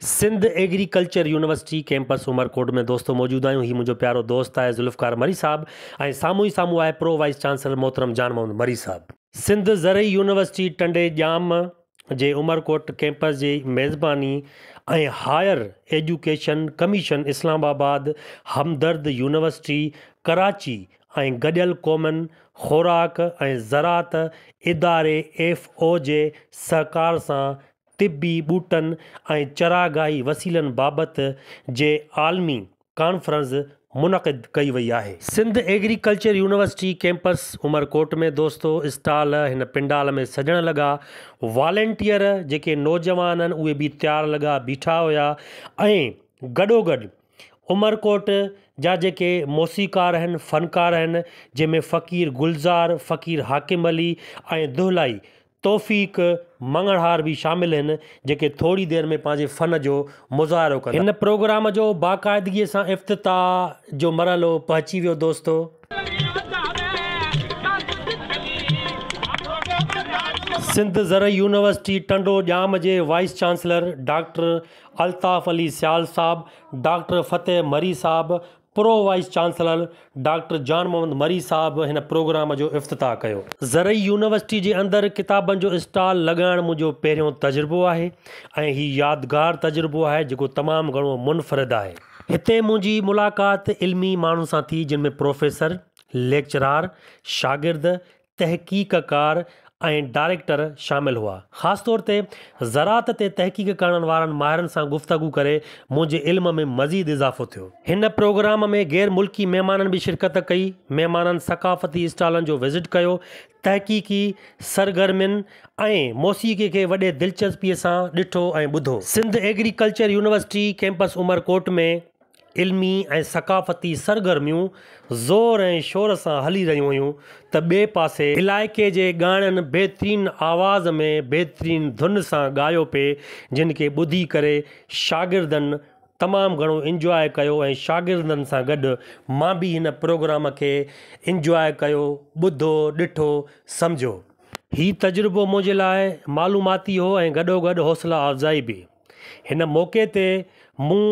Sindh agriculture university campus Umerkot ۾ دوستو موجود آهيون هي منهنجو پيارو دوست آهي ذوالفقار مري صاحب ۽ سامهون ئي سامهون آهي پرو وائيس چانسلر محترم جان محمد مري صاحب. سنڌ زرعي يونيورسٽي ٽنڊي ڄام جي عمرڪوٽ ڪيمپس جي ميزباني ۽ higher education commission Islamabad, Hamdard university Karachi ۽ گڏيل قومن خوراڪ ۽ زراعت اداري ايف او جي سهڪار سان طبي ٻوٽن ۽ چراگاهي وسيلن بابت جي عالمي ڪانفرنس منعقد ڪئي وئي آهي. Sindh agriculture university campus Umerkot ۾ دوستو اسٽال هن پنڊال ۾ سجڻ لڳا. والنٽيئر جيڪي نوجوان هن اهي به تيار لڳا بيٺا هيا ۽ گڏوگڏ عمرڪوٽ جا جيڪي موسيقار هن فنڪار هن جنهن ۾ فقير گلزار، فقير حاڪم علي ۽ دهلائي توفيق مڱڻهار به شامل هن جيڪي ٿوري دير ۾ پنهنجي فن جو مظاهرو ڪندا. هن پروگرام جو باقاعدگي سان افتتاح جو مرحلو پهچي ويو دوستو. سنڌ زرعي يونيورسٽي ٽنڊو ڄام جي vice chancellor doctor Altaf Ali Sial صاحب، ڊاڪٽر فتح مري صاحب، pro vice chancellor doctor Jan Muhammad Marri صاحب هن پروگرام جو افتتاح ڪيو. زرعي يونيورسٽي جي اندر ڪتابن جو اسٽال لڳائڻ منهنجو پهريون تجربو آهي ۽ هي يادگار تجربو آهي جيڪو تمام گهڻو منفرد آهي. هتي منهنجي ملاقات علمي ماڻهن سان ٿي جن ۾ پروفيسر، ليڪچرار، شاگرد، تحقيقڪار ۽ ڊائريڪٽر شامل هئا. خاص طور تي زراعت تي تحقيق ڪرڻ وارن ماهرن سان گفتگو ڪري منهنجي علم ۾ مزيد اضافو ٿيو. هن پروگرام ۾ غير ملڪي مهمانن به شرڪت ڪئي. مهمانن ثقافتي اسٽالن جو وزٽ ڪيو، تحقيقي سرگرمين ۽ موسيقي کي وڏي دلچسپي سان ڏٺو ۽ ٻڌو. Sindh agriculture university campus Umerkot ۾ علمي ۽ ثقافتي سرگرميون زور ۽ شور سان هلي رهيون هيون ته ٻئي پاسي علائقي جي ڳائڻن بهترين آواز ۾ بهترين ڌن سان ڳايو پئي جن کي ٻڌي ڪري شاگردن تمام گهڻو انجواء ڪيو ۽ شاگردن سان گڏ مان به هن پروگرام کي انجواء ڪيو ٻڌو ڏٺو سمجهيو. هي تجربو منهنجي لاء معلوماتي هو ۽ گڏوگڏ حوصلا افزائي به. هن موقعي تي مون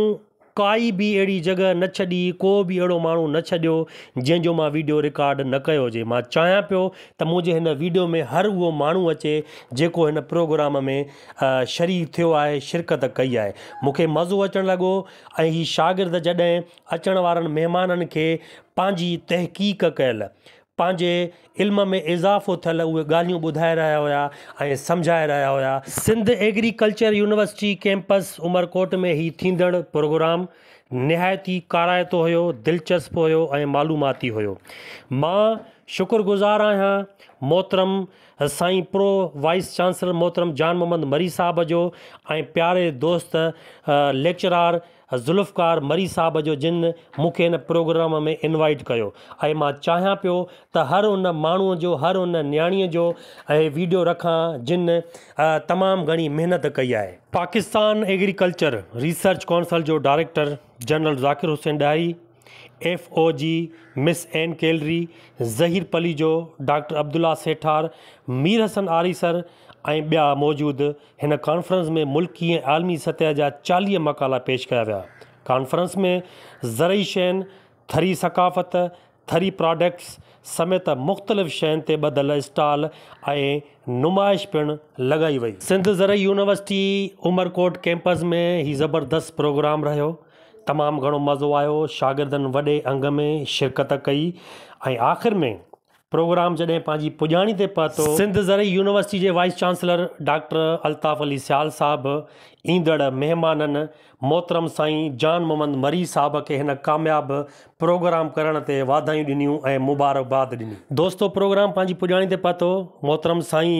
ڪائي به اهڙي جڳهه نه ڇڏي، ڪو به اهڙو ماڻهو نه ڇڏيو جنهن جو مان ويڊيو رڪارڊ نه ڪيو هجي. مان چاهيان پيو ته منهنجي هن ويڊيو ۾ هر اهو ماڻهو اچي جيڪو هن پروگرام ۾ شريڪ ٿيو آهي، شرڪت ڪئي آهي. مون کي مزو اچڻ لڳو ۽ هي شاگرد جڏهن اچڻ وارن مهمانن کي پنهنجي تحقيق ڪيل پنهنجي علم ۾ اضافو ٿيل اهي ڳالهيون ٻڌائي رهيا هيا ۽ سمجهائي رهيا هيا. Sindh agriculture university campus Umerkot ۾ هي ٿيندڙ پروگرام نهايت ئي ڪارائتو هيو، دلچسپ هيو ۽ معلوماتي هيو. مان شڪر گذار آهيان محترم سائين پرو وائيس چانسلر محترم جان محمد مري صاحب جو ۽ پياري دوست ليڪچرار ذوالفقار مري صاحب جو جن مون کي ان پروگرام ۾ انوائيٽ ڪيو ۽ مان چاهيان پيو ته هر ان ماڻهو جو هر ان نياڻي جو اهي ويڊيو رکان جن تمام گهڻي محنت ڪئي آهي. پاڪستان ايگريڪلچر ريسرچ ڪونسل جو director general Zakir Hussain Dahri, F O G miss N calorie, Zaheer Palijo, doctor Abdullah Sethar, Mir Hassan Arisar ۽ ٻيا موجود هن ڪانفرنس ۾ ملڪي ۽ عالمي سطح جا چاليهه مقالا پيش ڪيا ويا. ڪانفرنس ۾ زرعي شين، ٿري ثقافت، ٿري پراڊڪٽس سميت مختلف شين تي ٻڌل اسٽال ۽ نمائش پڻ لڳائي وئي. سنڌ زرعي يونيورسٽي عمرڪوٽ ڪيمپس ۾ هي زبردست پروگرام رهيو. تمام گهڻو مزو آيو شاگردن وڏي انگ ۾ شرڪت ڪئي ۽ آخر ۾ پروگرام جڏهن پنهنجي پڄاڻي تي پهتو. سنڌ زرعي يونيورسٽي جي vice chancellor doctor Altaf Ali Sial صاحب ايندڙ مهمانن محترم سائين جان محمد مري صاحب کي هن ڪامياب پروگرام ڪرڻ تي واڌايون ڏنيون ۽ مبارڪباد ڏني. دوستو پروگرام پنهنجي پڄاڻي تي پهتو محترم سائين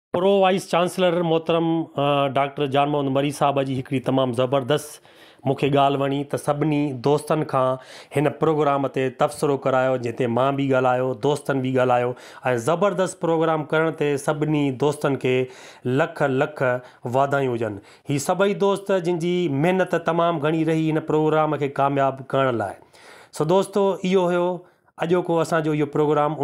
پرو وائيس چانسلر محترم ڊاڪٽر جان محمد مري صاحب جي هڪڙي تمام زبردست مون کي ڳالهه وڻي ته سڀني دوستن کان هن پروگرام تي تبصرو ڪرايو جنهن تي مان به ڳالهايو دوستن به ڳالهايو ۽ زبردست پروگرام ڪرڻ تي سڀني دوستن کي لک لک واڌايون هجن هي سڀئي دوست جن جي محنت تمام گهڻي رهي هن پروگرام کي ڪامياب ڪرڻ لاء سو دوستو اهو هيو اڄوڪو اسان جو اهو پروگرام